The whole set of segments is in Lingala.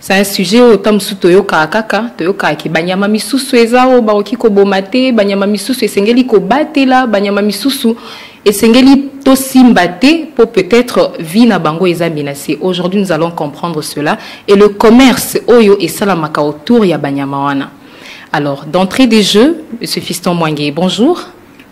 C'est un sujet oyo ntango mosusu toyokaka kaka toyokaka ke banyama misusu eza oyo bakoki koboma te banyama misusu esengeli kobatela banyama misusu esengeli tosimba te mpo peut-être vie na bango eza menacé aujourd'hui nous allons comprendre cela et le commerce oyo esalamaka autour ya banyama wana alors d'entrée des jeux monsieur fiston mwange bonjour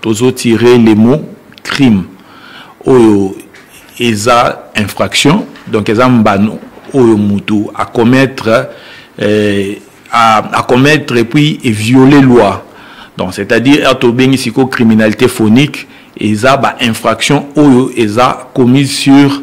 tozo tirer les mots crime oyo eza infraction donc eza mbano oyo mutu a commettre euh, à, à commettre et puis et violer loi donc c'est-à-dire ato euh, bengi siko criminalité phonique eza ba infraction oyo eza commise sur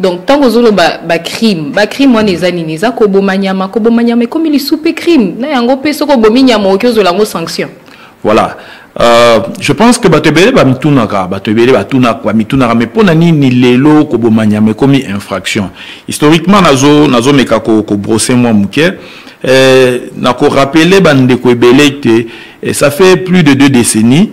donc ntango ozoloba bacrime bacrime wana eza nini eza koboma nyama koboma nyama ekomi lisu mpe crime na yango mpe soki obomi nyama okoki ozwela yango sanction voilà Euh, je pense que bato ebele bamitunaka bato ebele batunaka bamitunaka mais mpo na nini lelo koboma nyama ekomi infraction historiquement nazomeka nazo ko, kobrose mwa moke eh, nakorapele bandeko ebele te eh, ça fait plus de deux décennies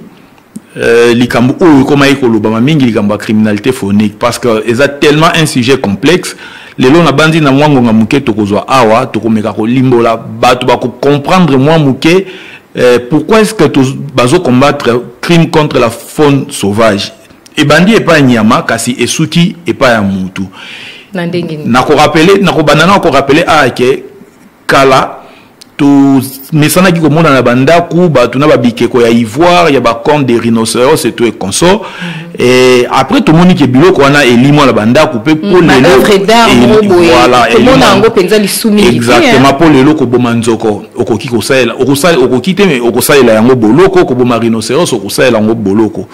Euh, likambo oyo ekomaki kolobama mingi likambo ya criminalité phonique parce que eza tellement un sujet complexe lelo nabanzi na mwa ngonga moke tokozwa awa tokomeka kolimbola bato bakocomprendre mwa moke euh, pourquoi est ce que bazocombattre crime contre la faune sauvage ebandi epai ya nyama kasi esuki epai ya motu nakorapele nakobanda na korapele aya ke kala tomesanaki komona na bandako bato na babikeko ya ivoire ya bacorne de rhinoceros eto e consort mhm. e, après tomoni ke biloko wana elimwa na bandako mpe mpo mm, leloexactement mpo lelo koboma nzoko okoki kosalela okoki te okosalela yango boloko koboma rhinoceros okosalela yango boloko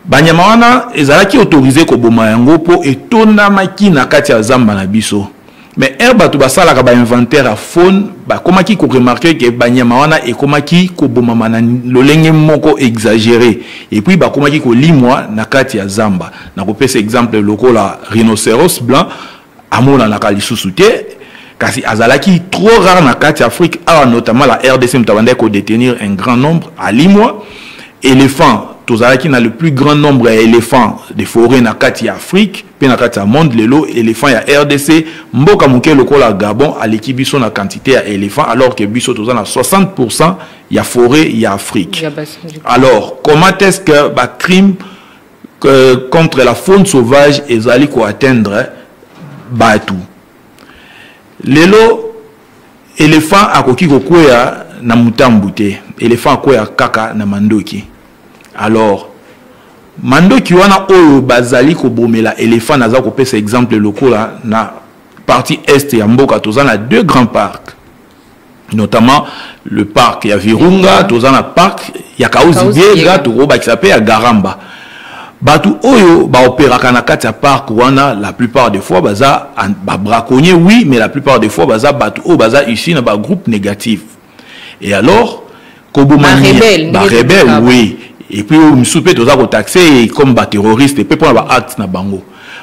banyama wana ezalaki autorize koboma yango mpo etondamaki na kati ya zamba na biso mais ere bato basalaka bainventaire ya faune bakomaki koremarke ke banyama wana ekomaki kobomama na lolenge moko exagere epuis bakomaki kolimwa na kati ya zamba na kopesa exemple lokola rhinoceros blanc amonanaka lisusu te kasi azalaki trop rare na kati afrique awa notamment la rdc moto abandaki kodetenir un grand nombre alimwa éléphant tozalaki na le plus grand nombre ya éléphant de forêt na kati ya afrique mpe na kati ya monde lelo éléphant ya rdc mboka moke lokola gabon aleki biso na quantité ya éléphant alors ke biso toza na 60 pourcent ya forêt ya afrique alors comment est ce que bacrime euh, contre la faune sauvage ezali koatteindre bato lelo elephant akoki kokwea na motambu te elephant akwea kaka na mandoki alors mandoki wana oyo bazali kobomela elephant naza kopesa exemple lokola na partie est ya mboka toza na deux grands parcs notamment le parc ya virunga toza na parc ya kauzi biega tokobakisa mpe ya garamba bato oyo baoperaka na kati ya parc wana la plupart des fois baza babraconnier oui mais la plupart des fois baza bato oyo baza ici na bagroupe négative et alors koboma barebele oui et puis oyo mosusu mpe toza kotaxe comme baterroriste mpe mpona baacte na bango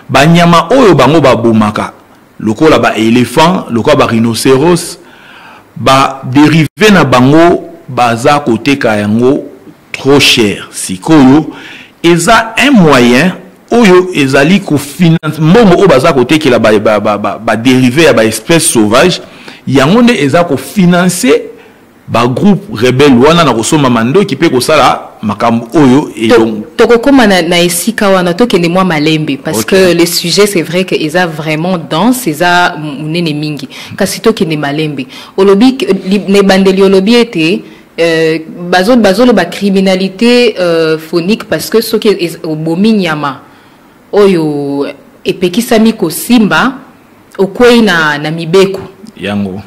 banyama oyo bango babomaka lokola ba elephant lokola ba rhinoceros ba derive na bango baza koteka yango trop cher sikoyo eza un moyen oyo ezali kofinance mbongo oyo baza kotekela baderive ba, ba, ba, ba ya baespèce sauvage yango nde eza kofinanse ba groupe rebelle wana na kosomba mandoki mpe kosala makambo oyo elongo tokokoma na, na esika wana tokende mwa malembe parce okay. que le sujet c'est vrai que eza vraiment dense eza monene mingi kasi tokende malembe olobi na ebandeli olobi ete euh, bazoloba criminalité euh, phonique parce que soki obomi nyama oyo epekisami kosimba okwei na, na mibeko yango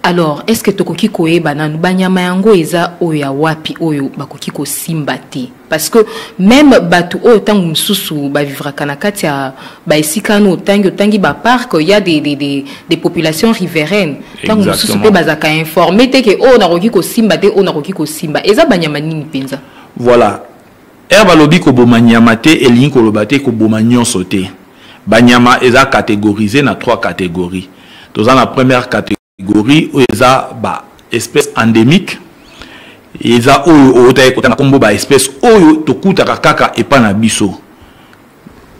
alors est ce que tokoki koyeba nanu banyama yango eza oyo ya wapi oyo bakoki kosimba te parce que meme bato oyo ntango mosusu bavivraka na kati ya baesika ano otangi otangi baparke ya des, des, des, des populations riveraines ntango mosusu mpe bazalaka informe te ke oyo oh, nakoki kosimba te oyo oh, nakoki kosimba eza banyama nini mpenza voilà Heure balobi koboma nyama te elingi koloba te koboma nyonso te. Banyama eza categorise na trois categories. Toza na première categorie oyo eza ba espèces endémiques eza oyo oyotaki kotanga nkombo ba espèces oyo tokutaka kaka epa na biso.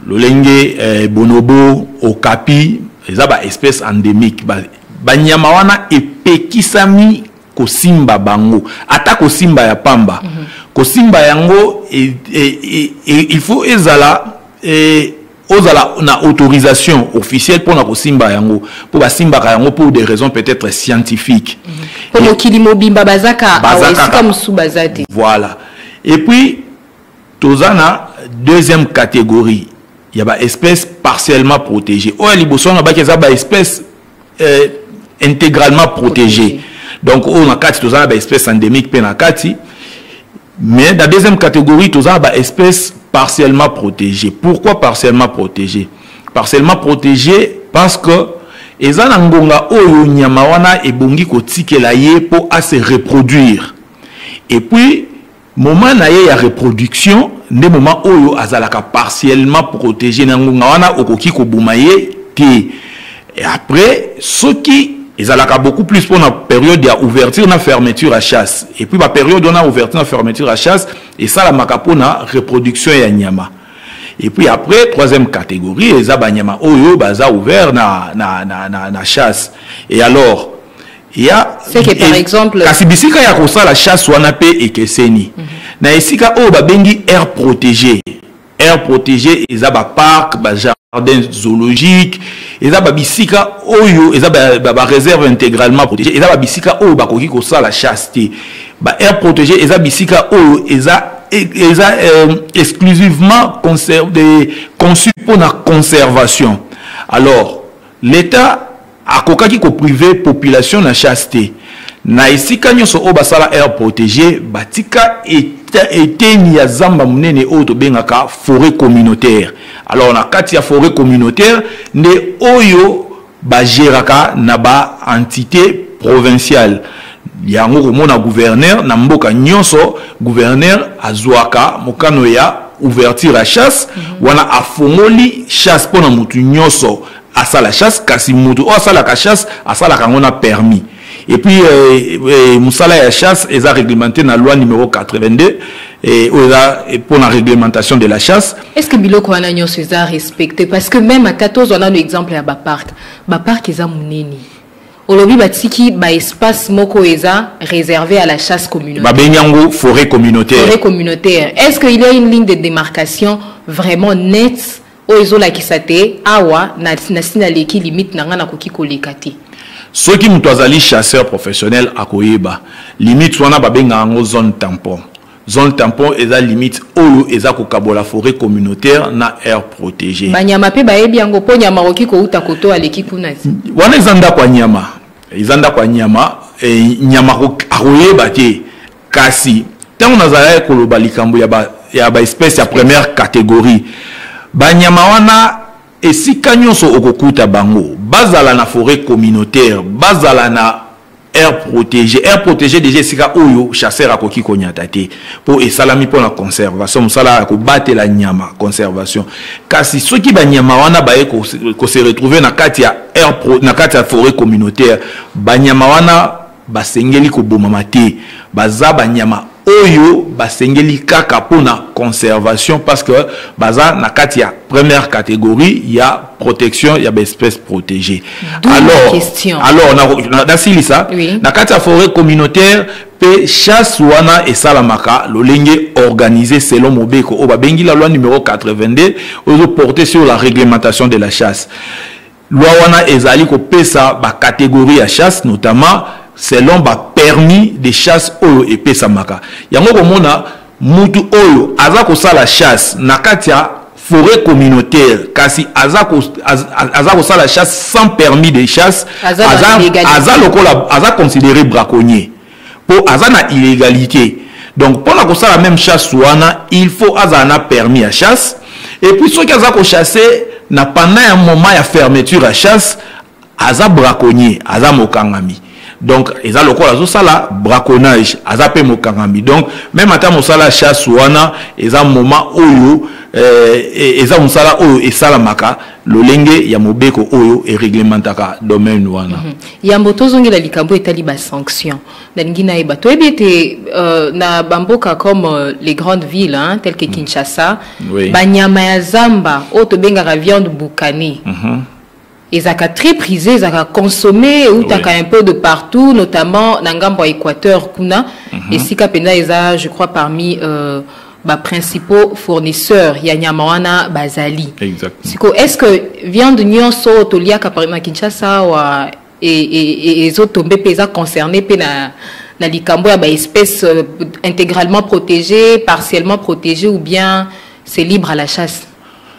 lolenge eh, bonobo okapi eza ba espèce endémique banyama ba wana epekisami kosimba bango ata kosimba ya pamba mm -hmm. kosimba yango e, e, e, e, il faut ezala e, ozala na autorisation officielle mpona kosimba yango mpo basimbaka yango pour des raisons peut-être scientifiques mhm. mpo mokili mobimba baza kaka esika mosusu baza te voilà et puis toza na deuxième catégorie ya ba espèce partiellement protégée oyo ya liboso wana baki eza ba espèce euh, intégralement protégée donc oyo na kati toza na ba espèce endémique mpe na kati mais na deuxième catégorie toza na ba espèce partiellement protégée pourquoi partiellement protégée partiellement protégée parce que eza na ngonga oyo nyama wana ebongi kotikela ye mpo ase reproduire et puis Moment na ye ya reproduction nde moment oyo azalaka partiellement protégé na ngonga wana okoki koboma ye te. Et après soki ezalaka beaucoup plus mpo na periode ya ouverture na fermeture ya chasse et puis ba periode wana ouverture na fermeture ya chasse esalamaka mpo na reproduction ya nyama et puis après troisième catégorie eza banyama oyo baza ouvert na, na, na, na, na chasse et alors ya seke par exemple kasi bisika ya kosala chasse wana mpe ekeseni mm -hmm. na esika oyo babengi air protégé air protégé eza baparc bajardin zoologique eza babisika oyo eza bareserve ba, ba intégralement protégé eza babisika oyo bakoki kosala chasse te ba air protégé eza bisika oyo eza eza euh, exclusivement conçu mpo na conservation alors l'état Akokaki ko priver population na chasse te. Na esika nionso oyo basala aire protegee, batika eteni ya zamba munene oyo tobengaka foret communautaire. Alors na kati ya foret communautaire nde oyo ba geraka na ba entite provinciale. Yango komona gouverneur na mboka nionso, gouverneur azuaka mokano ya ouverture ya chasse, wana afongoli chasse pona mutu nionso. asala chasse kasi moto oyo asalaka chasse asalaka yango na permis et puis eh, eh, mosala ya chasse eza réglementé na loi numéro 82 eh, oyo eza mpo na réglementation de la chasse est ce que biloko wana nyonso eza respecté parce que même ata tozwa nano exemple ya bapark bapark eza monene olobi batiki baespace moko eza réservé à la chasse communautaire babengi yango forêt communautaire forêt communautaire est ce que il y a une ligne de démarcation vraiment nette oyo ezolakisa te awa nasi naleki limite na ngai nakoki koleka te soki moto azali chasseur professionnel akoyeba limite wana babenga yango zone tampon zone tampon eza limite oyo eza kokabola forêt communautaire na aire protégée banyama mpe bayebi yango mpo nyama akoki kouta koto aleki kuna wana eza ndako ya nyama eza ndako ya nyama e, nyama akoyeba te kasi ntango nazalaki koloba likambo ya ba, ya ba espèce ya première catégorie banyama wana esika nyonso okokuta bango bazala na forêt communautaire bazala na air protégé air protégé déjà esika oyo chasseur akoki konyata te mpo esalami mpo na conservation mosala ya kobatela nyama conservation kasi soki banyama wana baye kose retrouve na kati ya air pro, na kati ya forêt communautaire banyama wana Basengeli kobomama te. Baza banyama oyo basengeli kaka mpo na conservation parce que baza na kati ya première catégorie ya protection ya baespèce protégée. Alors, question. alors nasilisa na, na, oui. na kati ya forêt communautaire mpe chasse wana esalamaka lolenge organisé selon mobeko oyo babengi la loi numero 82 oyo ezoporte sur la réglementation de la chasse Loi wana ezali kopesa ba categories ya chasse notamment selon ba permis de chasse oyo epesamaka. Yango komona mutu oyo aza kosala chasse na kati ya forêt communautaire kasi aza ko az, aza kosala chasse sans permis de chasse aza aza, aza lokola aza considéré braconnier. po aza na illégalite donc mpona kosala même chasse wana il faut azala na permis ya chasse et puis soki aza kochasse na pendant ya moment ya fermeture ya chasse aza braconnier aza mokangami donc eza lokola azosala braconnage aza mpe mokangami donc meme ata mosala ya chasse wana eza moment oyo eh, e, eza mosala oyo esalamaka lolenge ya mobeko oyo ereglementaka domaine wana mm -hmm. yambo tozongela likambo etali basanction nalingi nayeba toyebi ete uh, na bamboka comme uh, les grandes villes hein, telles que mhm. kinshasa oui. banyama ya zamba oyo tobengaka viande bukani mm -hmm. ezalaka très prisé ezalaka consommé eutaka oui. un peu de partout notamment na ngambo ya équateur kuna mm -hmm. esika mpenza eza je crois parmi uh, ba principaux fournisseurs ya nyama wana bazali exact siko est ce que viande nyonso oyo toliaka na kinshasa awa e, e, e, ezotombe mpe eza concerné mpe na na likambo ya baespèce euh, intégralement protégée partiellement protégée ou bien c'est libre à la chasse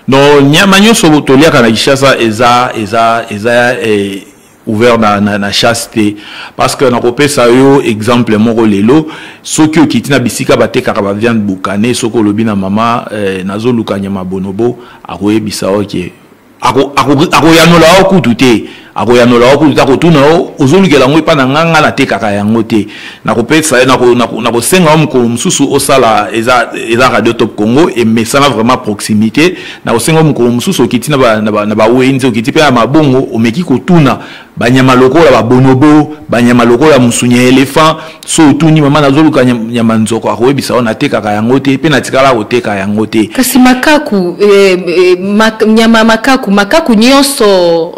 donc nyama nyonso toliaka na kinshasa eza eza eza eh, ouvert na, na, na chasse te parce que nakopesa yo exemple moko lelo soki okiti na bisika batekaka baviande bukane soki olobi na mama eh, nazoluka nyama bonobo akoyebisa yo ke akoyanola yo kutu te akoyanola yo kutu te akotuna yo ozolukela yango epai na nganga natekaka yango te nakopesa nakosenga yo mokolo mosusu osala eza radio top congo emesana vraiment proximité na osenga mokolo mosusu okiti na ba, na ba, na ba wenze okiti mpe na mabongo omeki kotuna banyama lokola babonobo banyama lokola musunya ya elephant so otuni mama nazoluka nyama nzoko akoyebisa yo natekaka yango te mpe natikala koteka yango te kasi makaku eh, eh, mak, nyama makaku makaku nyonso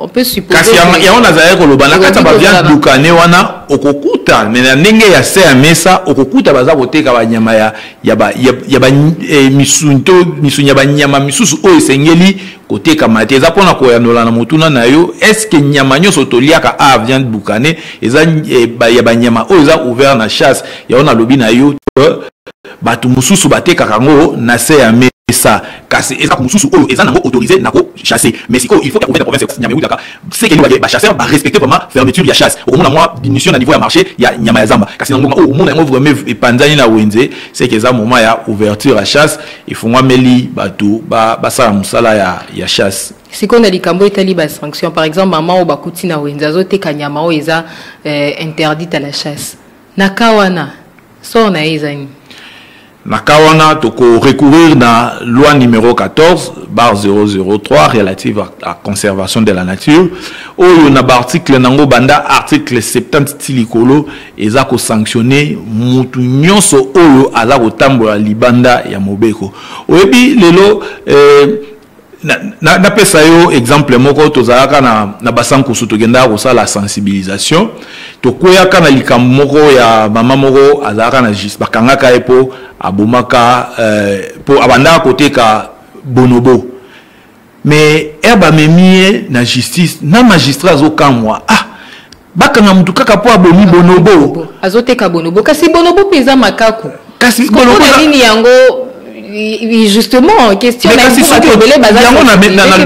kasi yango nazalaki koloba na kati ya baviande dukane wana okokuta me na ndenge ya se ya mesa okokuta baza koteka banyama ya, ya ba ya, ya ba eh, misuni to misuni ya banyama misusu oyo esengeli kotekama te eza mpo na koyanola na motuna na yo estce nyama nyonso toliaka a viande bukane eza eh, ba, ya banyama oyo eza ouvert na chasse yango nalobi na yo bato mosusu batekaka yango na se ya mesa kasi eza mosusu oyo eza nango autorise na kochasse mais sikoyo il faut ya province ya province nyama ewutaka seke liwa ye bachasseur barespecte vraiment fermeture ya chasse okomona mwa diminution na niveau ya marché ya nyama ya zamba kasi na ngonga oyo omona yango vraiment epanzani na wenze seke eza moment ya ouverture ya chasse efungwameli bato basala mosala ya, ya chasse sikoyo na likambo etali basanction par exemple mama oyo bakuti na wenze azoteka nyama oyo eza eh, interdite à la chasse na ka wana sor na ye eza nini Na cas wana, toko recourir na loi numero 14 bar 003 relative à conservation de la nature oyo na ba article nango banda article 70 ti likolo eza ko sanctionner mutu nyonso oyo aza kotambola libanda ya mobeko oyebi lelo eh, napesa na, na yo exemple moko tozalaka na, na basankusu tokendaka kosala sensibilisation tokweyaka na likambo moko ya mama moko azalaka na jus bakangaka ye mpo abomaka mpo euh, abandaka koteka bonobo mais ere bamemi ye na justice na magistrat azokamwa ah bakanga mutu kaka po abomi bonobo azoteka bonobo kasi bonobo mpe eza makaku kasi bonobo nini yango justement question yango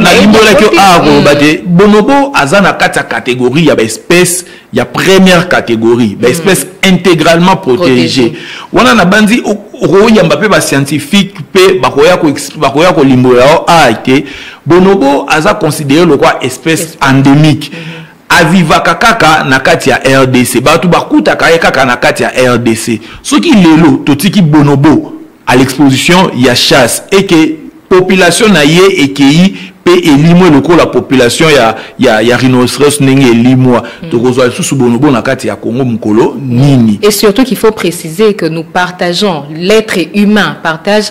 nalimbolaki yo awa koloba te bonobo aza na kati ya catégorie ya baespèce ya première catégorie baespèce mm. intégralement protégée wana nabanzi okoyamba mpe bascientifique mpe bakoya kolimbola yo awa te bonobo aza considéré lokwa espèce endémique mm -hmm. avivaka kaka na kati ya rdc bato bakutaka ye kaka na kati ya rdc soki lelo totiki bonobo à l'exposition ya chasse eke population na ye ekei mpe elimwe lokola population ya, ya, ya rhinoceros ndenge elimwa mm. tokozwa lisusu bonobo na kati ya congo mokolo nini et surtout qu'il faut préciser que nous partageons l'être humain partage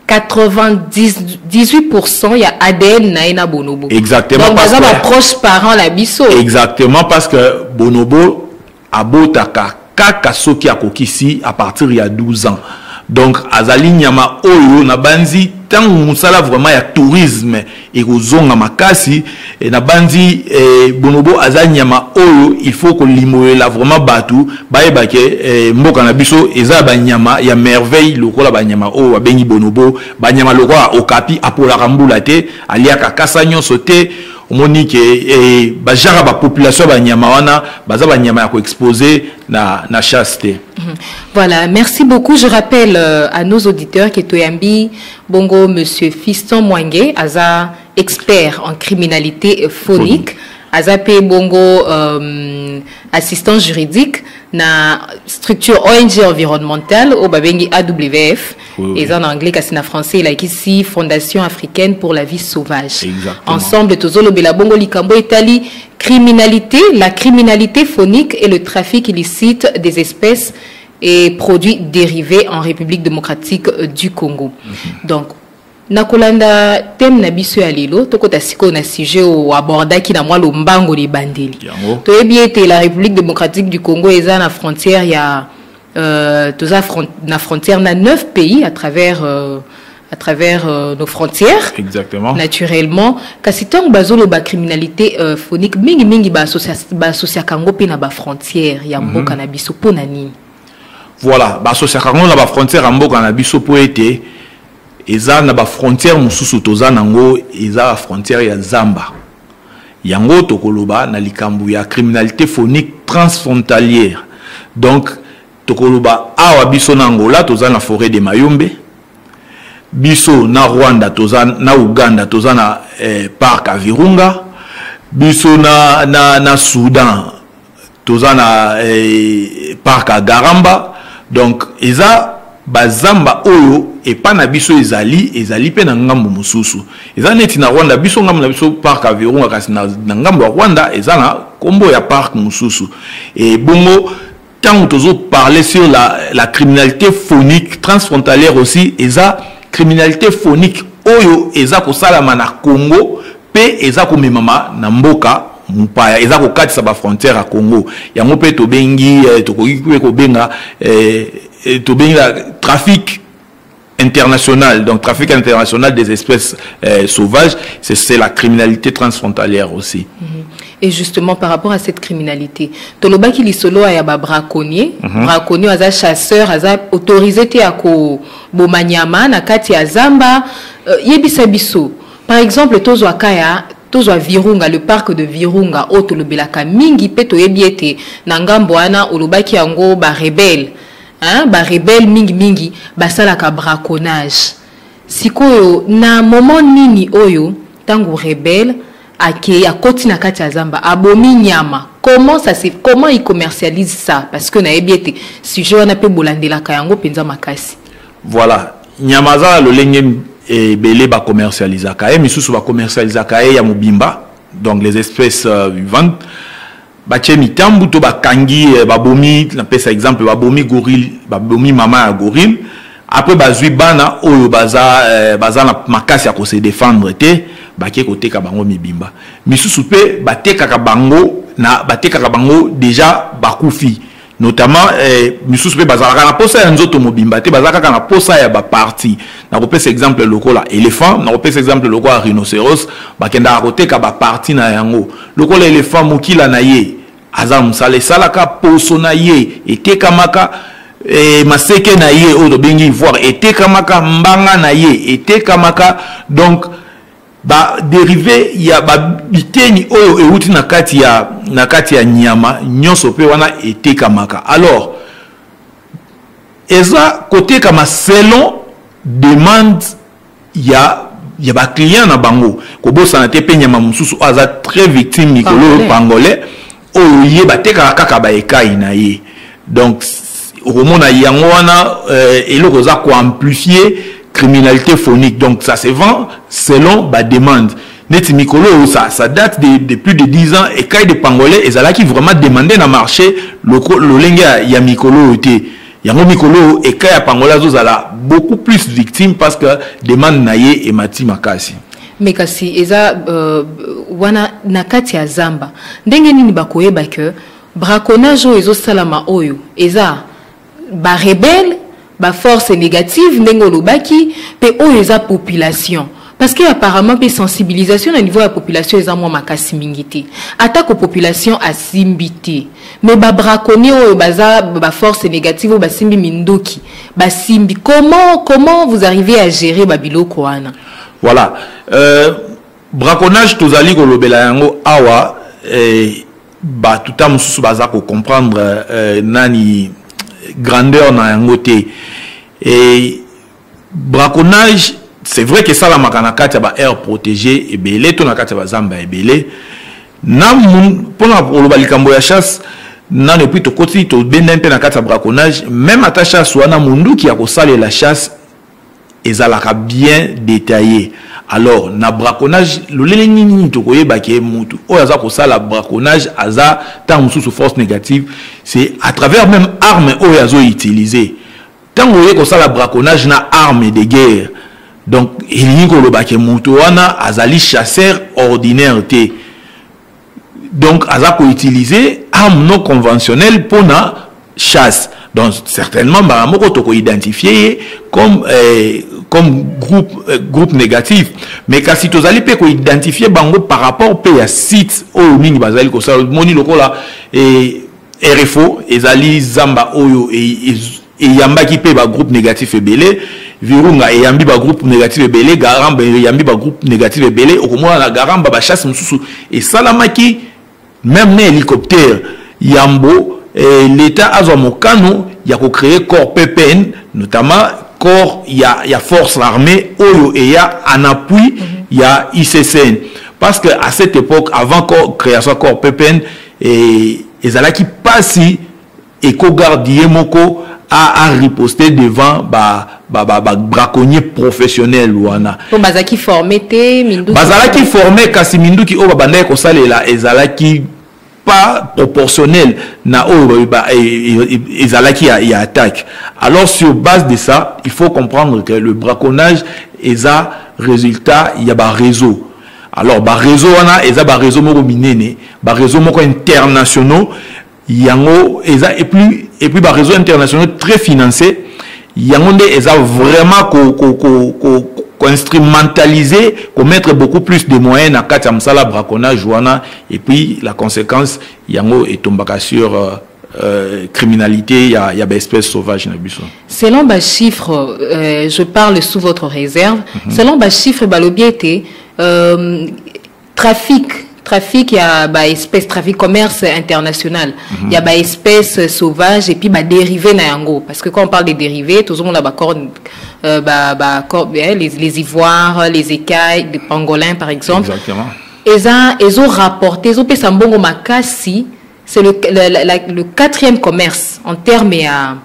98% ya ADN na ye na bonobo. Exactement. Donc baza ba proche parent na biso. Exactement parce que bonobo abotaka kaka soki akokisi à partir ya 12 ans. Donc azali nyama oyo na banzi tango musala vraiment ya tourisme ekozonga makasi eh, nabanzi eh, bonobo aza nyama oyo il faut kolimolela vraiment bato bayeba ke eh, mboka na biso eza banyama ya merveille lokola banyama oyo babengi bonobo banyama lokola okapi apolaka mbula te aliaka kasa nyonso te omoni ke eh, bajaka bapopulation ya banyama wana baza banyama ya koexpose na, na chasse te mm -hmm. voilà merci beaucoup je rappelle euh, à nos auditeurs ke toyambi Bongo monsieur Fiston Mwange aza expert en criminalité phonique. aza mpe bongo euh, assistant juridique na structure ong environnementale oyo babengi awf oui, eza na anglais kasi na français elakisi fondation africaine pour la vie sauvage Exactement. ensemble tozolobela bongo likambo etali criminalité la criminalité phonique et le trafic illicite des espèces et produits dérivés en République démocratique euh, du Congo. Mhm. Donc, nakolanda thème na biso ya lelo tokota sikoyo na sujet oyo abordaki na mwa lombango libandeli toyebi ete la république démocratique du congo eza na frontière ya euh, toza front, na frontière na 9 pays à travers euh, à travers euh, nos frontières. Exactement. Naturellement. Kasi tant bazolo ba criminalité euh, phonique mingi mingi ba associa ba associa kango pe na ba frontières ya mhm. mboka mm -hmm. na biso po na nini? Voilà, ba associa kango na ba frontières ya mboka na biso po ete eza na ba frontières mususu toza nango eza ba frontières ya Zamba. Yango tokoloba na likambo ya criminalité phonique transfrontalière. Donc tokoloba awa biso na angola toza na foret de mayombe biso na rwanda toza na uganda toza na eh, parc ya virunga biso na, na, na soudan toza na eh, parc ya garamba donc eza bazamba oyo epa na biso ezali ezali mpe na ngambo mosusu eza neti na rwanda biso ngambo na biso parc ya virunga kasi na, na ngambo ya rwanda eza na nkombo ya parc mosusu ebongo ntango tozo parler sur la, la criminalité phonique transfrontalière aussi eza criminalité phonique oyo eza kosalama na congo mpe eza komemama na mboka mopaya eza kokatisa bafrontière ya congo yango mpe tobengi eh, tokoki mpe kobenga eh, eh, tobengi la trafic international, donc trafic international des espèces euh, sauvages, c'est la criminalité transfrontalière aussi. Mm -hmm. Et justement, par rapport à cette criminalité, Toloba qui solo a ba braconnier, mm -hmm. braconnier aza chasseur, aza autorisé te à ko bomanyama na kati ya zamba, euh, yebisa biso. Par exemple, tozo akaya tozwa virunga le parc de virunga oyo tolobelaka mingi mpe toyebi ete na ngambo wana olobaki yango barebele hein, ba rebelle mingi mingi basalaka braconnage sikoyo na moment nini oyo tango rebelle akei akoti na kati ya zamba abomi nyama comment ça se comment il commercialise ça parce que nayebi ete sujet wana mpe bolandelaka yango mpenza makasi voilà nyama aza na lolenge ebele bacommercialisaka ye misusu bacommercialisaka ye ya mobimba donc les espèces euh, vivantes batye mitambu to bakangi eh, babomi napesa exemple babomi gorille babomi mama ya gorille après bazwi bana oyo baza, eh, baza na makasi ya kose defendre te bake koteka bango mibimba misusu mpe batekaka bango na batekaka bango deja bakufi notamment eh, misusu mpe bazalaka na posa ya nzoto mobimba te bazalaka kaka na posa ya baparti nakopesa exemple lokola éléphant nakopesa exemple lokola rhinocéros bakendaka koteka baparti na yango lokola éléphant mokila na ye aza mosala esalaka poso na ye etekamaka eh, maseke na ye oyo tobengi ivoire etekamaka mbanga na ye etekamaka donc baderive ya biteni oyo euti na kati ya, na kati ya nyama nyonso mpe wana etekamaka alors eza kotekama selon demande ya ya baclient na bango kobosana te mpe nyama mosusu oyo aza très victime mikolo oyo pangolais oyo ye batekaka kaka baekai na ye donc okomona yango wana euh, eloko oza koamplifie criminalité phonique donc ça se vend selon bademande neti mikolo oyo ça, ça date de, de plus de 10 ans ekai de pangolais ezalaki vraiment demande na marché lolenge ya, ya mikolo oyo te yango mikolo oyo ekai ya pangolais azozala beaucoup plus victime parce que demande na ye emati makasi mais kasi eza euh, wana na kati ya zamba ndenge nini bakoyeba ke braconnage oyo ezosalama oyo eza barebele baforce négative ndenge olobaki mpe oyo eza population parce que apparemment mpe sensibilisation na niveau ya population eza mwa makasi mingi te atako population asimbi te mais babraconnier oyo baza baforce négative oyo basimbi minduki basimbi comment comment vous arrivez à gérer babiloko wana Voilà. Euh, braconnage tozali kolobela yango awa eh, bato ta mosusu baza kocomprendre eh, nani grandeur na yango te eh, braconnage c'est vrai que sala makana kati ya ba air protégé ebele to na kati ya bazamba ebele na mpona koloba likambo ya chasse nano epuis tokoti tobenda mpe na kati ya braconnage meme ata chasse wana monduki ya kosalela chasse ezalaka bien detaille alors na braconnage lolele nini nini tokoyeba ke mutu oyo aza kosala braconnage aza ntango mosusu force négative c'est à travers même arme oyo azo utiliser ntango oye kosala braconnage na arme de guerre donc elingi koloba ke moto wana azali chasseur ordinaire te donc aza ko utiliser arme non conventionnelle mpo na chasse donc certainement mbala moko toko identifie ye comme eh, comme groupe, eh, groupe négatif mais kasi tozali mpe koidentifie bango par rapport mpe ya site oyo mingi bazali kosala moni lokola eh, rfo ezali zamba oyo e, e, eyambaki mpe bagroupe négatif ebele virunga eyambi bagroupe négatif ebele garamba eyambi bagroupe négatif ebele okomona na garamba bachasse mosusu esalamaki meme na hélicoptère yambo eh, l'état azwa mokano ya kocreye corps ppn notamment corps ya, ya force armée oyo eya en appui ya iccn parce que à cette époque avant corps, création corps ppn eh, ezalaki mpasi Eco garde ye moko a, a riposter devant ba ba ba, ba braconnier professionnel wana po bazalaki forme te minduki bazalaki forme kasi minduki oyo babandaki kosalela ezalaki pas proportionnel na oyo ba, e, e, e, ezalaki ya, ya attaque alors sur base de ça il faut comprendre que le braconnage eza résultat ya ba réseau alors ba réseau wana eza ba réseau moko minene ba réseau moko internationaux yango eza et puis et puis ba réseaux internationaux très financés yango nde eza vraiment ko ko ko, ko koinstrumentaliser komettre beaucoup plus de moyens na kati ya mosala braconnage wana et puis la conséquence yango etombaka sur euh, Euh, criminalité ya, ya baespèce sauvage na biso selon bachiffre euh, je parle sous votre réserve mm -hmm. selon bachiffre balobi ete euh, trafic trafic ya ba espèce trafic commerce international mm -hmm. ya ba espèce sauvage et puis ba dérivé na yango parce que quand on parle de dérivé tozomona ba corne euh, ba, ba corne, eh, les, les ivoires les écailles des pangolins par exemple Exactement. eza ezo rapporter ezopesa mbongo makasi c'est le, le, le, le quatrième commerce en terme ya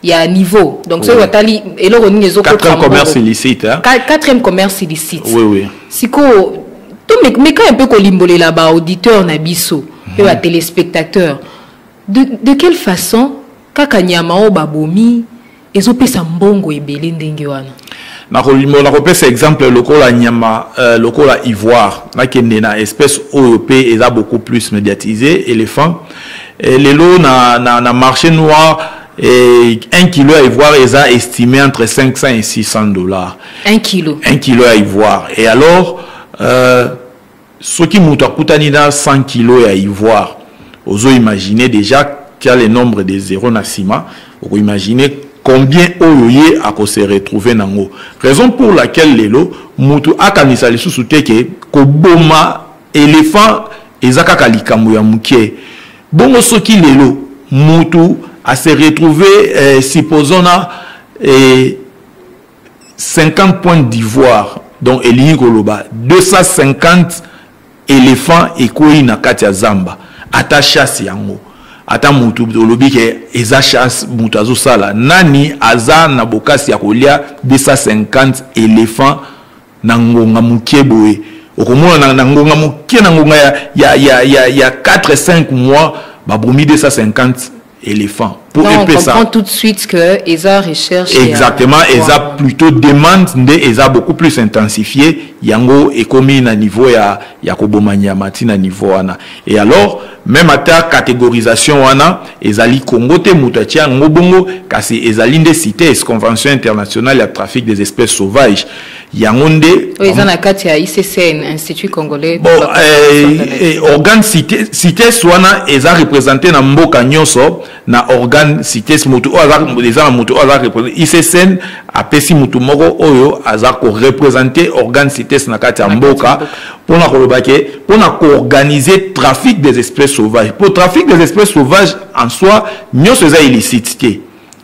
Il y a un niveau donc soki batali eloko nini ezokotquatrième commerce illicite hein? quatrième commerce illicite oui, oui. sikoyo tomeka un peu kolimbolela baauditeur na biso mpe mhm. batelespectateur de, de quelle façon kaka nyama oyo babomi ezopesa mbongo ebele ndenge wana nakolimbola nakopesa exemple lokola nyama euh, lokola ivoire nakende na espèce oyo mpe eza beaucoup plus médiatisé éléphant et lelo na, na, na marché noir et 1 kilo à ivoire eza estimé entre 500 et 600 dollars 1 kilo 1 kilo à ivoire et alors euh, soki mutu akutani na 100 kilos ya ivoire ozo imaginer dejà tu as le nombre de zero na sima oko imaginer combien oyo ye ako se retrouver nango raison pour laquelle lelo mutu akanisa lisusu te ke koboma elephant eza kaka likambo ya mukie bongo soki lelo mutu a se retrouver eh, supposons na eh, 50 points d'ivoire donc elingi koloba 250 éléphant ekwei na kati ya zamba ata chasse yango ata mutu olobi ke eza chasse mutu azosala nani aza na bokasi ya kolia 250 éléphant na ngonga moke boye okomona na ngonga moke na ngonga ya, ya, ya, ya, ya 4 5 mois babomi 250 éléphant pour non, epesa on comprend tout de suite que eza recherche exactement ya... eza plutôt demande nde eza beaucoup plus intensifié yango ekomi na niveau ya ya koboma nyama ti na niveau wana et alors même ata catégorisation wana ezali Congo te moto atia yango bongo kasi ezali nde CITES convention internationale ya trafic des espèces sauvages yango nde oyo eza na kati ya iccn institut congolais bon, eh, eh, organe cites wana eza représente na mboka nyonso na organe cites motu oyo aza eza na motu oyo aza représente iccn apesi motu moko oyo aza koreprésente organe cites na kati ya mboka mpona koloba ke mpona koorganiser trafic des espèces sauvages mpo trafic des espèces sauvages en soi nyonso eza illicite te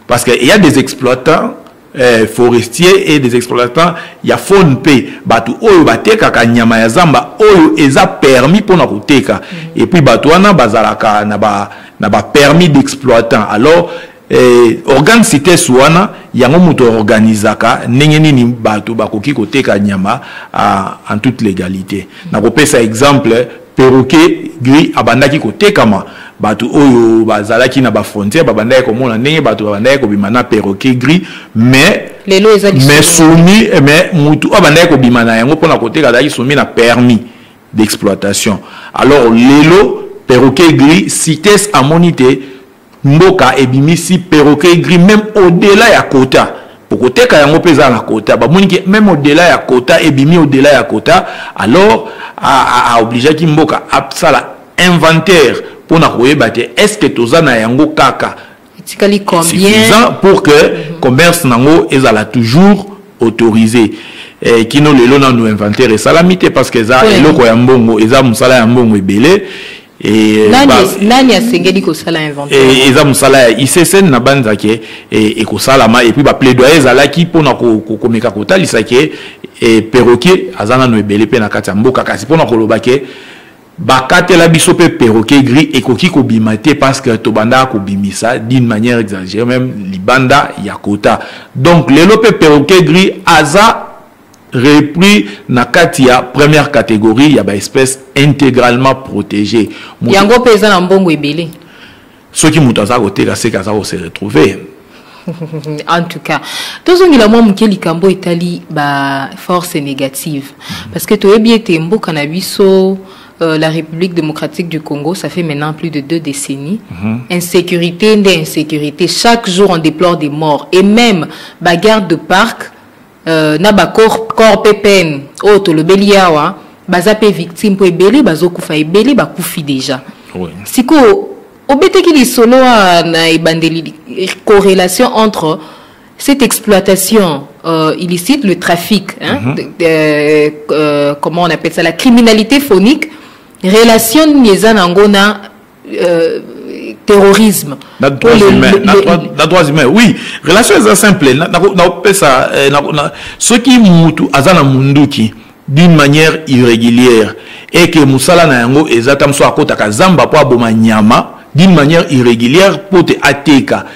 parce que il y a des exploitants eh, forestier et des exploitants ya fone mpe bato oyo batekaka nyama ya zamba oyo eza permis mpo na koteka mm. epuis bato wana bazalaka na ba, na ba permis d'exploitant alors eh, organe cites wana yango moto organisaka ndenge nini bato bakoki koteka nyama ah, en toute légalité nakopesa exemple Perroquet gris abandaki kotekama, batu oyo bazalaki na ba frontières babandaki komona ndenge batu babandaki kobima na perroquet gris mais lelo eza mais soumi eh, mais mutu abandaki kobima na yango pona koteka azalaki soumi na permis d'exploitation alors lelo perroquet gris cites amoni te mboka ebimisi perroquet gris meme au-delà ya kota okoteka yango mpe eza na kota bamoni ke meme au-delà ya kota ebimi au-delà ya kota alors aobligeaki mboka asala inventaire mpo na koyeba te est ce que toza na yango kaka etikali combien pour que mhm. commerce nango ezala toujours autorisé eh, kino lelo nanu inventaire esalami te parce que eza eloko ya mbongo eza mosala ya mbongo ebele Eh, nani asengeli kosala inventaire eh, eza mosala ya issn na banza ke eh, ekosalama epuis baplaidoyer ezalaki mpona komeka kotalisa ke perroquet aza nano ebele mpe na kati ya mboka kasi mpona koloba ke bakatela biso mpe perroquet gris ekoki kobima te parce que tobandaka kobimisa d'une manière exagérée même libanda ya kota donc lelo mpe perroquet gris aza repris na kati ya première catégorie ya baespèce intégralement protégée yango mpe eza na mbongo ebele soki moto aza koteka seke aza kose retrouver en tout cas tozongela mwa moke likambo etali baforce négative mm. parce que toyebi ete mboka na biso Euh, la République démocratique du Congo, ça fait maintenant plus de deux décennies. Mm -hmm. Insécurité, insécurité. Chaque jour, on déplore des morts. Et même, bagarre de parc, Euh, na ba corps corps pe peine oyo tolobeli yawa baza pe victime po ebele bazokufa ebele bakufi deja oui. sikoyo obetaki lisolo na ebandeli correlation entre cette exploitation euh, illicite, le trafic, hein, mm -hmm. de, de, euh, euh, comment on appelle ça, la criminalité phonique, relation Niezanangona Euh, terrorisme na droits humains na droits humains oui relation eza simple nakopesa eh, soki mutu aza na munduki d'une manière irrégulière et que mosala na yango eza ata mosusu akotaka zamba mpo aboma nyama d'une manière irrégulière mpo te ateka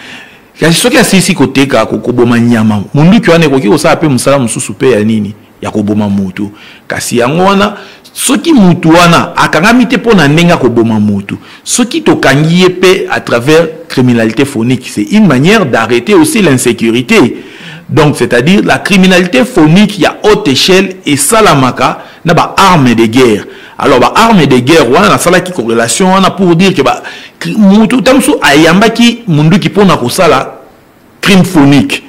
kasi soki asilisi koteka koboma nyama monduki wana ekoki kosala mpe mosala mosusu mpe ya nini ya koboma moto kasi yango wana soki motu wana akangami te mpo na ndenge akoboma motu soki tokangi ye mpe à travers criminalité phonique c'est une manière d'arrêter aussi l'insécurité donc c'est-à-dire la criminalité phonique ya haute échelle esalamaka na baarme de guerre alors baarme de guerre wana nasalaki corrélation wana pour dire ke motu ta mosusu ayambaki monduki mpo na kosala crime phonique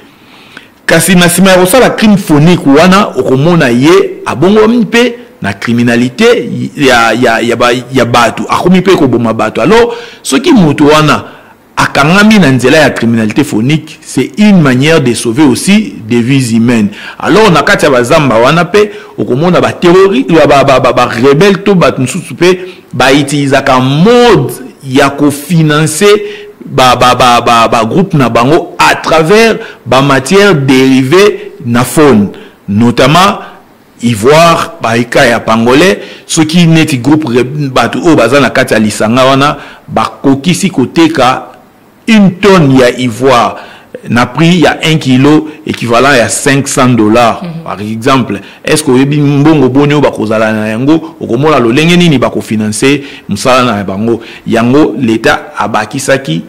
kasi na nsima ya kosala crime phonique wana okomona ye abongwami mpe na criminalité ya, ya, ya, ba, ya bato akomi mpe koboma bato alors soki moto wana akangami na nzela ya criminalité phonique c'est une manière de sauver aussi des vies humaines alors na kati ya bazamba wana mpe okomona barebele ba, ba, ba, ba, ba, to bato mosusu mpe ba utilisaka mode ya kofinanse bagroupe ba, ba, ba, ba, ba na bango à travers bamatière dérivé na faune notamment ivoire baika ya pangolais soki neti groupe bato oyo baza na kati ya lisanga wana bakokisi koteka une tonne ya ivoire na prix ya 1 kilo équivalent ya 500 dollars mm -hmm. par exemple est ce que oyebi mbongo boni oyo bakozala na yango okomona lolenge nini bakofinanse mosala na bango yango leta abakisaki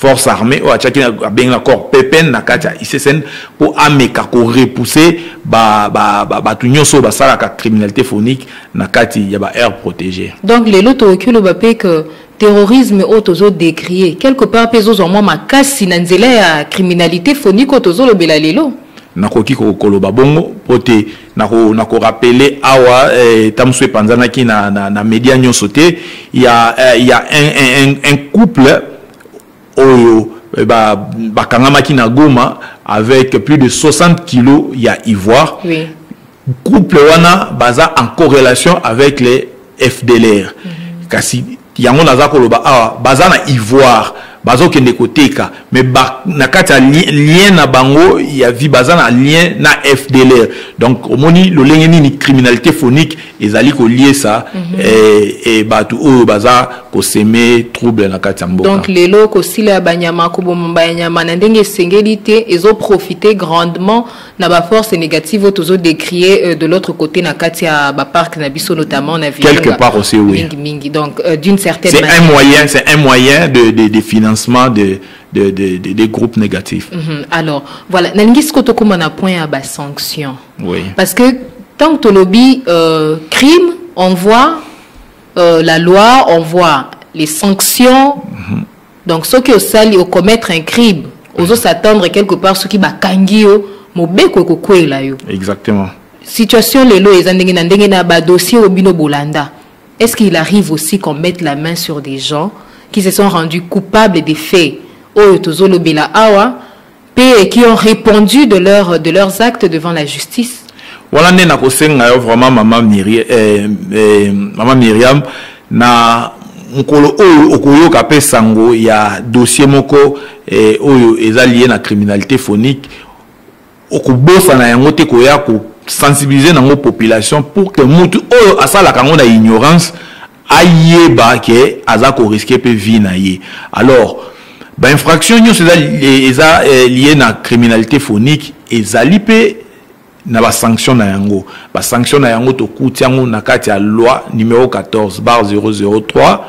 force armée oyo atyaki abengi na corps pepen na kati ya issn mpo ameka korepousse bato ba, ba, ba nyonso oyo basalaka criminalité phonique na kati ya ba aire protégé donc lelo tokoki oloba mpe ke Terrorisme oyo tozo decrier quelque part mpe ezozwa mwa makasi na nzela ya criminalite phonique oyo tozolobela lelo. nakoki koloba bongo mpo te nakorapele na awa eh, ta mosusu epanzanaki na, na, na media nyonso te ya, eh, ya un, un, un couple oyo eh, bakangamaki ba na goma avec plus de 60 kilos ya ivoire oui. couple wana baza en correlation avec les fdlr mm -hmm. kasi yango naza koloba awa baza na ivoire bazokende koteka me ba, na kati ya li, lien na bango ya vie baza na lien na fdlr donc omoni lolenge nini criminalité phonique ezali koliesa mm -hmm. eh, eh, bato oyo baza koseme trouble na kati ya mboka donc lelo kosila ya banyama koboma banyama na ndenge esengeli te ezoprofite grandement na ba force négative oyo tozo décrier euh, de l'autre côté na kati ya ba parc na biso notamment na ville quelque part aussi oui mingi mingi donc euh, d'une certaine c'est un moyen c'est un moyen de, de, de financement de des de, de, de groupes négatifs mm -hmm. alors voilà nalingi sikoyo tokóma na point ya basanction oui. parce que tant que tolobi euh, crime on voit euh, la loi on voit les sanctions mm -hmm. donc soki osali o commettre un crime ozo s'attendre quelque part soki bakangi yo mobeko ekokwela yo exactement situation lelo eza ndenge na ndenge na badossier oyo bino bolanda est ce qu'il arrive aussi qu'on mette la main sur des gens qui se sont rendus coupables des faits oyo tozolobela awa et qui ont répondu de, leur, de leurs actes devant la justice. Voilà, nde nakosenga yo vraiment mama Myriam, eh, eh, mama Myriam na mokolo oyo okoyoka mpe sango ya dossier moko eh, oyo eza lié na criminalité phonique okobosana yango te koya kosensibilize nango population pour que mutu oyo asalaka yango na ignorance ayeba ke aza ko risquer pe vie na ye alors ba infraction nyonso eza eza eh, lié na criminalité phonique ezali pe na ba sanction na yango ba sanction na yango tokuti yango na kati ya loi numéro 14 bar 003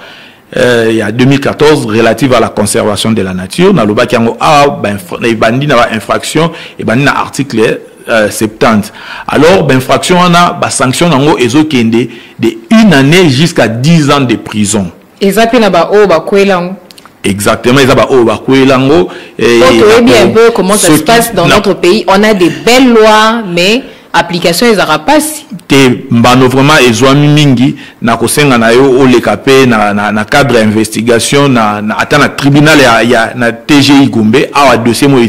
euh, ya 2014 relative à la conservation de la nature nalobaki yango awa ah, ebandi na ba infraction ebandi na article Euh, 70 alors bainfraction wana basanction yango ezokende de une année jusqu'à 10 ans de prison eza mpe na baoyo bakwela yango exactement eza baoyo bakwela yango eh, toyebi un peu comment ça se passe dans notre pays on a des belles lois mais application ezalaka mpasi te mbano vraiment ezwami mingi na kosenga na yo oleka mpe na, na, na cadre ya investigation na, na, ata na tribunal ya, ya na tgi gombe awa dossier moyo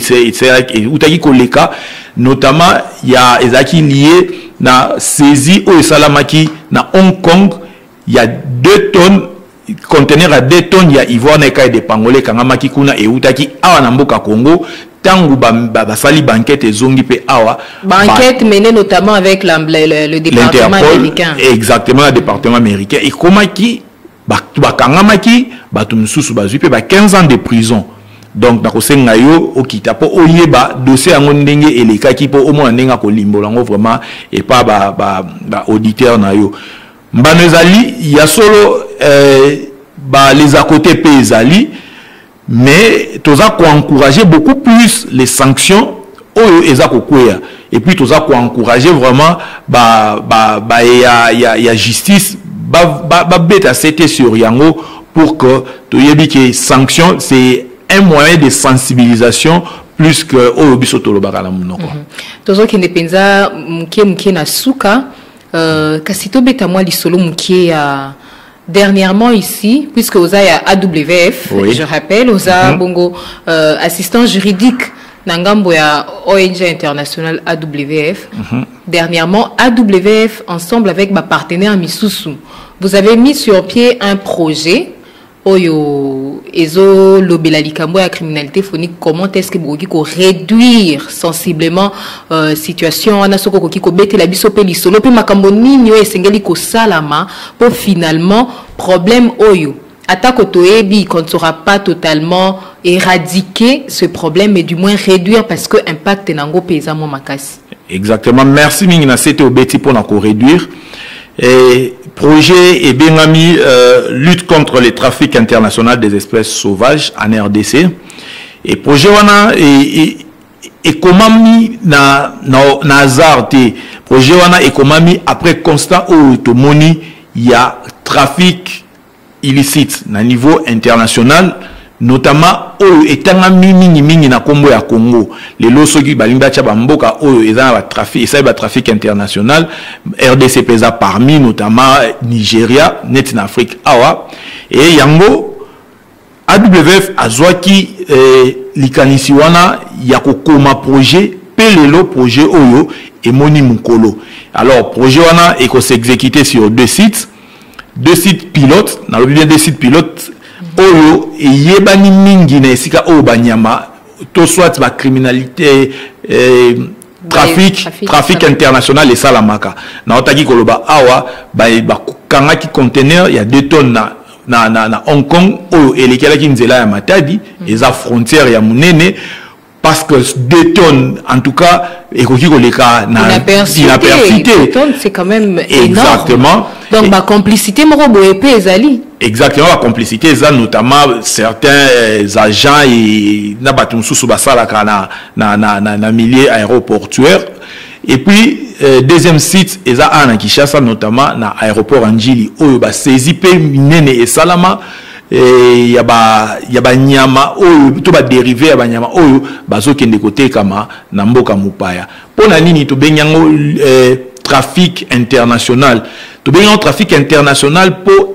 eutaki koleka notamment ya ezalaki lie na saisie oyo esalamaki na hong kong ya 2 tonnes conteneur ya 2 tonnes ya ivoire na ekai de pangole ekangamaki kuna eutaki awa na mboka congo tango ba, ba, basali banquete ezongi mpe awa banquete ba, menée notamment avec la, le, le, le département américain exactement le département américain ekomaki bato bakangamaki bato mosusu bazwi mpe ba 15 ans de prison donc nakosenga yo okita mpo oyeba dossier yango ndenge elekaki mpo omona ndenge akolimbola yango vraiment epa baauditeur ba, ba na yo mbano ezali ya solo eh, ba les à côté mpe ezali mais toza ko encourager beaucoup plus les sanctions oyo eza kokwea et puis toza ko encourager vraiment ba ba ba ya ya, ya justice ba ba, ba beta sete sur yango pour que toyebi que sanction c'est un moyen de sensibilisation plus que oyo biso tolobaka na monoko mm -hmm. tozokende mpenza moke moke na suka euh, kasi tobeta mwa lisolo moke ya Dernièrement ici, puisque Oza ya AWF, oui. je rappelle, Oza mm -hmm. Bongo, euh, assistant juridique Nangambo ya ONG internationale AWF. Mm -hmm. Dernièrement, AWF, ensemble avec ma partenaire Misusu, vous avez mis sur pied un projet oyo ezo lobela likambo ya criminalité phonique comment est-ce que bokoki ko réduire sensiblement euh, situation wana soki okoki kobetela biso mpe lisolo mpe makambo nini oyo esengeli kosalama Po finalement problème oyo ata ko toyebi qu'on ne saura pas totalement eradiquer ce problème mais du moins réduire parce que impact na ngo pe eza mwa makasi. Exactement. Merci mingi na sete obeti po na ko réduire. Et projet et Bengami euh, lutte contre les trafics internationaux des espèces sauvages en RDC. Et projet wana et, et ekomami na, na, na hasard te projet wana ekomami après constat oyo tomoni ya trafic illicite na niveau international notamment oyo etangami mingimingi na nkombo ya congo lelo soki balingi batya bamboka oyo eza na batrafic esali batrafic international rdc mpe eza parmi notamment nigeria neti na afrique awa e yango AWF azwaki eh, likanisi wana ya kokoma projet mpe lelo projet oyo emoni mokolo alors projet wana ekosexécute sur deux sites deux sites pilotes nalobi bien deux sites pilotes oyo eyebani mingi na esika oyo banyama to soit bacriminalité eh, trafic trafic international esalamaka naotaki koloba awa bakangaki conteneur ya 2 tonnes na na, na, na hong kong oyo elekelaki nzela ya matadi mm. eza frontière ya monene parce que deux tonnes en tout cas ekoki koleka na inaperçu te exactement donc bacomplicité moko boye mpe ezali exactement bacomplicité eza notamment certains euh, agents na bato mosusu basalaka na na, na, na, na milieu aéroportuaire et puis euh, deuxième site eza a na kinshasa notamment na aéroport ya njili oyo basaisie mpe minene esalama eh, ya banyama oyo to baderive ya banyama oyo bazokende kotekama na mboka mopaya mpo na nini tobengi yango eh, trafic international tobengi yango trafic international mpo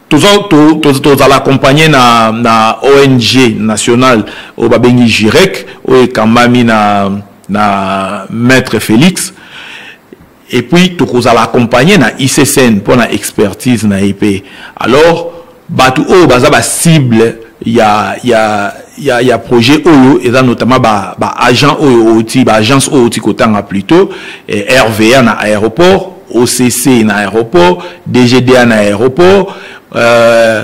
tozala accompagne na, na ong nationale oyo babengi jirek oyo ekambami na, na maître félix et puis tokozala accompagne na iccn mpo na expertise na ye mpe alors bato oyo baza bacible ya, ya, ya, ya projet oyo eza notamment baagent ba oyo outi baagence oyo outi kotanga plutôt eh, rva na aéroport occ na aéroport dgda na aéroport euh,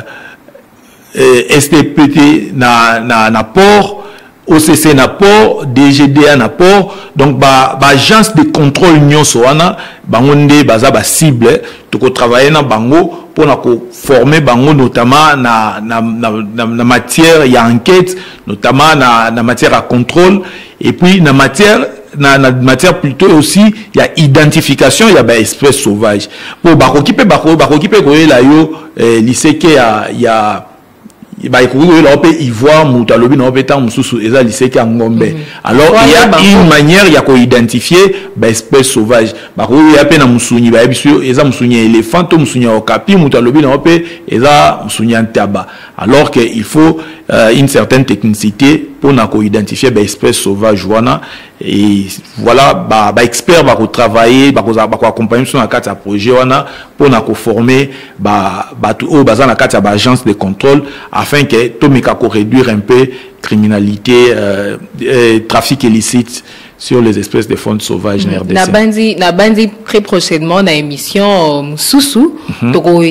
euh stpt na, na, na port occ na port dgda na port donc baagence ba de contrôle nyonso wana bango nde baza bacible tokotravaille na bango mpo na koforme bango notamment na, na, na, na, na matière ya enquête notamment na, na matière ya contrôle et puis na matière na, na matière plutôt aussi ya identification ya ba espèce sauvage po bakoki mpe bakoki mpe koyela yo eh, liseke ya, ya bakoki koyela yango mpe ivoire moto alobi na yango mpe ntango mosusu eza liseke ya ngombe mhm. alors il y a une manière ya koidentifie baespèce sauvage bakoki koya mpe na mosuni bayebi biso eza mosuni ya éléphant to mosuni ya okapi moto alobi na yango mpe eza mosuni ya ntaba alors que il faut euh, une certaine technicité pour na ko identifier ba espèces sauvages wana et voilà ba ba experts ba ko travailler ba ko ba ko accompagner sur na carte à projet wana pour na ko former ba ba tout au bazana carte à agence de contrôle afin que to meka ko réduire un peu criminalité euh, euh, trafic illicite sur les espèces de fonds sauvages na RDC. Nabanzi nabanzi très prochainement na émission euh, Mususu mm -hmm. toko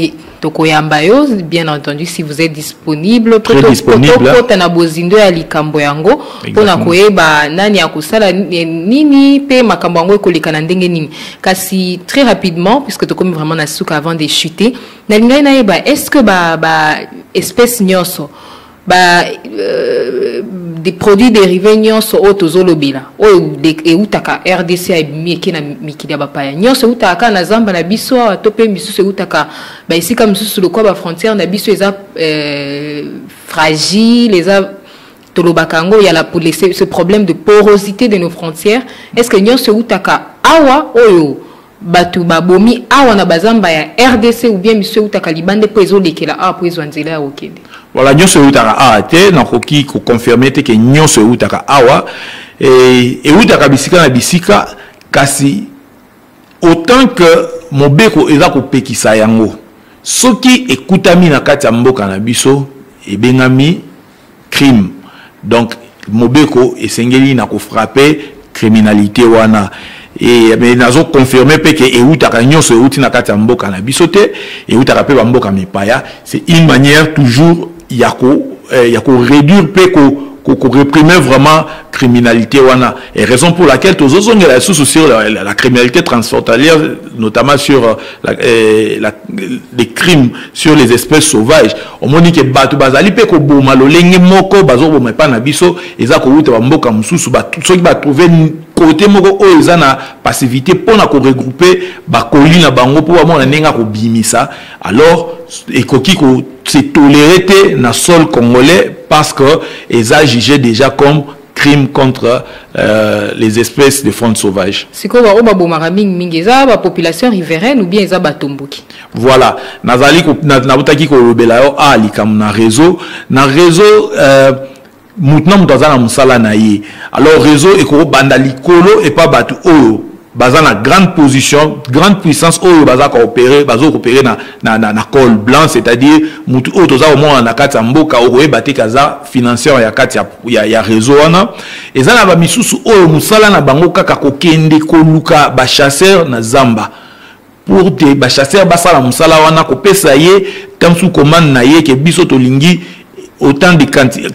toko yamba yo bien entendu si vous êtes disponible très disponible kota na bozindo ya likambo yango pona koyeba nani akosala nini pe makambo yango ekoleka na ndenge nini kasi très rapidement puisque tokomi vraiment na suka avant de chuter nalingaki nayeba est-ce que ba ba espèce nyonso ba euh, des produits dérivés nyonso oyo tozolobela oyo eutaka rdc ebimi eke na mikili ya bapaya nyonso eutaka kaka na zamba na biso awa to mpe misusu eutaka baesika mosusu lokola bafrontière na biso eza euh, fragile eza tolobaka yango ya la ce problème de porosité de nos frontières est ce que nyonso eutaka awa oyo bato babomi awa na bazamba ya rdc ou bien miso eutaka libanda mpo ezolekela awa mpo ezwa nzela ya kokende voilà nyonso eutaka awa te nakoki koconfirme te ke nyonso eutaka awa e, eutaka bisika na bisika kasi autant que mobeko eza kopekisa yango soki ekutami na kati ya mboka na biso ebengami crime donc mobeko esengeli na kofrape criminalité wana e, me nazo confirme mpe ke eutaka nyonso euti na kati ya mboka na biso te eutaka mpe bamboka mipaya c'est une manière toujours ya ko eh, ya koréduire mpe ko koreprime vraiment criminalité wana et raison pour laquelle tozozongela lisusu sur la, la, la criminalité transfrontalière notamment sur euh, la, eh, la, des crimes sur les espèces sauvages omoni ke bato bazali mpe koboma lolenge moko bazoboma epai na biso eza kowuta bamboka mosusu soki batrouve kote moko oyo eza na passivité mpo na koregroupe bakoli na bango mpo bamona ndenge akobimisa alors ekoki ko se tolere te na sol congolais parce que eza juge déjà comme crime contre euh, les espèces de faune sauvage sikoyo baoyo babomaka mingi mingi eza bapopulation riveraine ou bien eza batomboki voilà nazali nautaki kolobela yo a ah, likambo na réseau na réseau euh, motu na moto aza na mosala na ye alors réseau ekobanda likolo epa bato oyo baza na grande position grande puissance oyo baza koopere bazo koopere na, na, na, na col blanc c'est-à-dire motu oyo toza komona na kati ya mboka okoyeba te kaza financeur ya kati ya, ya, ya réseau wana eza na bamisusu oyo mosala na bango kaka kokende koluka bachasseur na zamba pour te bachasseur basala mosala wana kopesa ye tamsu commande na ye ke biso tolingi autant de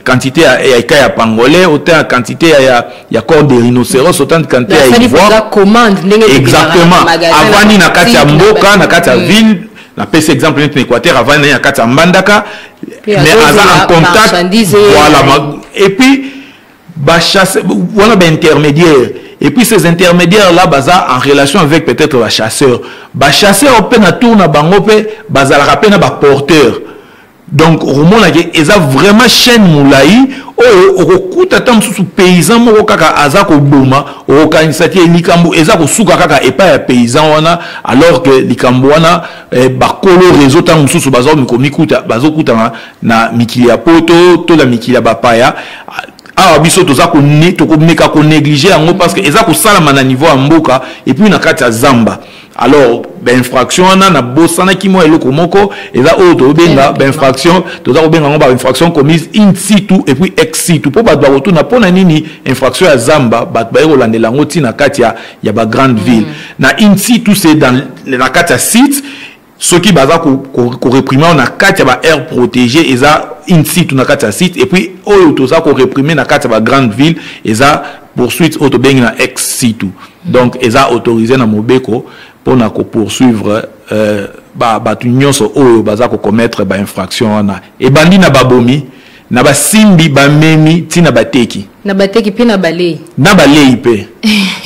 quantité ya eka ya pangolais autant ya quantité ya, ya, ya corps de rhinocéros autant de quantité ya ivoireexactement avandi na kati ya mboka na kati ya mm. ville napesi exemple neti na équateur avandi na kati ya mbandaka mais aza en contact voilà et puis ba chasse wana ba intermédiaire et puis ces intermédiaires là baza en relation avec peut-être ba chasseurs ba chasseurs mpe na tour na bango mpe bazalaka mpe na ba porteurs donc okomonaka eza vraiment chaîne molai oyo okokuta ata mosusu paysan moko kaka aza koboma okokanisa te likambo eza kosuka kaka epai ya paysan wana alors que likambo wana eh, bakolo réseau ntango mosusu baza komikuta bazokutana na mikili ya poto to na mikili ya bapaya awa biso toza tokomeka konéglige yango parce que eza kosalama na niveau ya mboka epuis na kati ya zamba alors bainfraction wana nabosanaki mwa eloko moko eza oyo tobenga bainfraction toza kobenga yango bainfraction commise in situ epuis ex situ mpo bato bakotuna mpo na nini infraction ya zamba bato baye kolandela yango ntina kati ya, ya bagrande ville mm. na in situ se na kati ya site soki baza koreprime ko, ko na kati ya baaire protégé eza une site na kati ya site et puis oyo toza koreprime na kati ya bagrande ville eza poursuite oyo tobengi na ex situ donc eza autorisé na mobeko mpona kopoursuivre euh, bato nyonso oyo baza kokomettre bainfraction wana ebandi na babomi Na basimbi, bamemi, ti na bateki. Na bateki mpe na balei. Na balei mpe.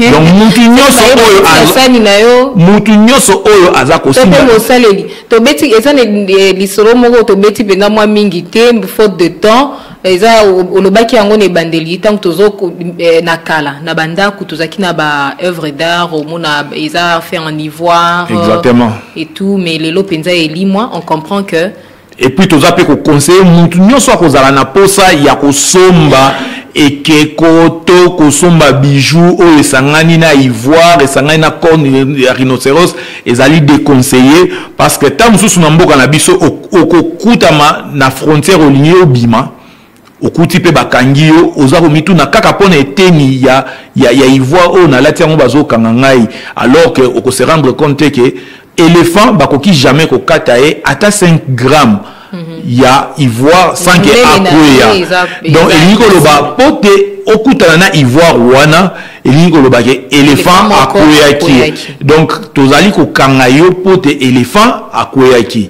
donc mutu nyonso oyo asani na yo mutu nyonso oyo aza kosimba mpe mosaleli tobeti eza na eh, lisolo moko tobeti mpenza mwa mingi te faute de temps eza olobaki yango na ebandeli ntango tozo eh, na kala na bandako tozalaki na ba œuvre d'art omona eza fait en ivoire exactement et tout mais lelo mpenza elimwa on comprend que epuis toza mpe kokonseye mutu nyonso akozala na mposa ya kosomba ekeko to kosomba bijou oyo esangani na ivoire esangani na corne ya rhinoceros ezali déconseille parce que ntango mosusu na mboka na biso okokutama na frontière olingi obima okuti mpe bakangi yo oza komituna kaka mpo na eteni ya, ya, ya ivoire oyo nalati yango bazokanga ngai alors que okose rendre compte te ke éléphant bakoki jamais kokata ye ata 5 gramme mm -hmm. ya ivoire sans ke akweya donc elingi koloba mpo te okutana na ivoire wana elingi koloba ke éléphant akweyaki donc tozali kokanga yo mpo te éléphant akweyaki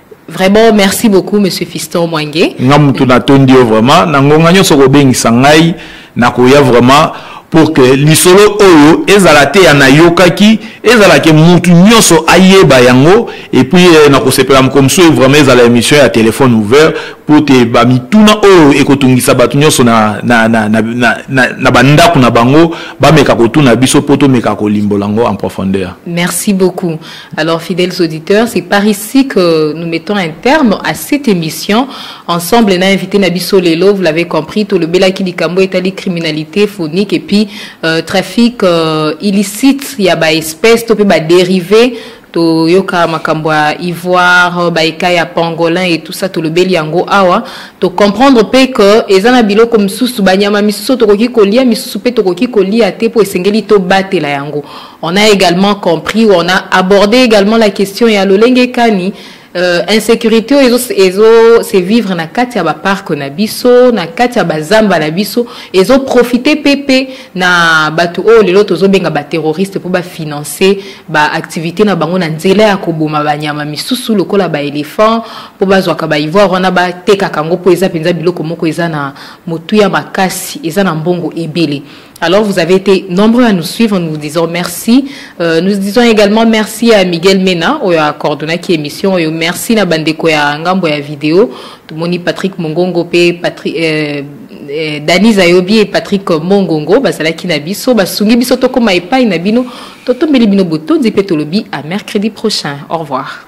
Vraiment, merci beaucoup, Monsieur Fiston Mwange. Nga mutu na tondi yo vraiment, na ngonga nyoso ko bengi sangai, na koya vraiment pour que lisolo oyo ezala te ya nayokaki ezala ke mutu nyoso ayeba yango et puis eh, na kosepela moko mosusu vraiment ezala émission ya téléphone ouvert pour te ba mituna oyo ekotungisa bato nyoso na, na, na, na, na, na, na bandako na bango bameka kotuna biso mpo tomeka kolimbola yango en profondeur merci beaucoup Alors, fidèles auditeurs, c'est par ici que nous mettons un terme à cette émission. Ensemble, on a invité Nabiso Lelo, vous l'avez compris, tout le Belaki Likambo est allé criminalité phonique et puis euh, trafic euh, illicite, il y a des espèces, tout peut dériver toyoka makambo ya ivoire baika ya pangolin et tout ça tolobeli yango awa tocomprendre mpe ke eza na biloko mosusu banyama misusu tokoki kolia misusu mpe tokoki kolia te mpo esengeli tobatela yango On a également compris ou on a abordé également la question ya lolenge kani euh, insécurité oyo ezo se vivre na kati ya bapark na biso na kati ya bazamba na biso ezo profite mpe mpe na bato oyo lelo tozobenga baterroriste mpo bafinance baactivité na bango na nzela ya koboma banyama misusu lokola baéléphant mpo bazwaka baivoire wana batekaka yango mpo eza mpenza biloko moko eza na motuya makasi eza na mbongo ebele Alors vous avez été nombreux à nous suivre, nous vous disons merci. Euh, nous disons également merci à Miguel Mena, au a coordonné qui émission, et merci à Bandeko ya Ngambo ya vidéo, tout moni Patrick Mongongo, Patrick, euh, euh, Dani Zayobi et Patrick Mongongo, Basalaki Nabiso, Basungi Biso Tokoma et Pai Nabino, Totombeli Bino Boto, Zipetolobi, à mercredi prochain. Au revoir.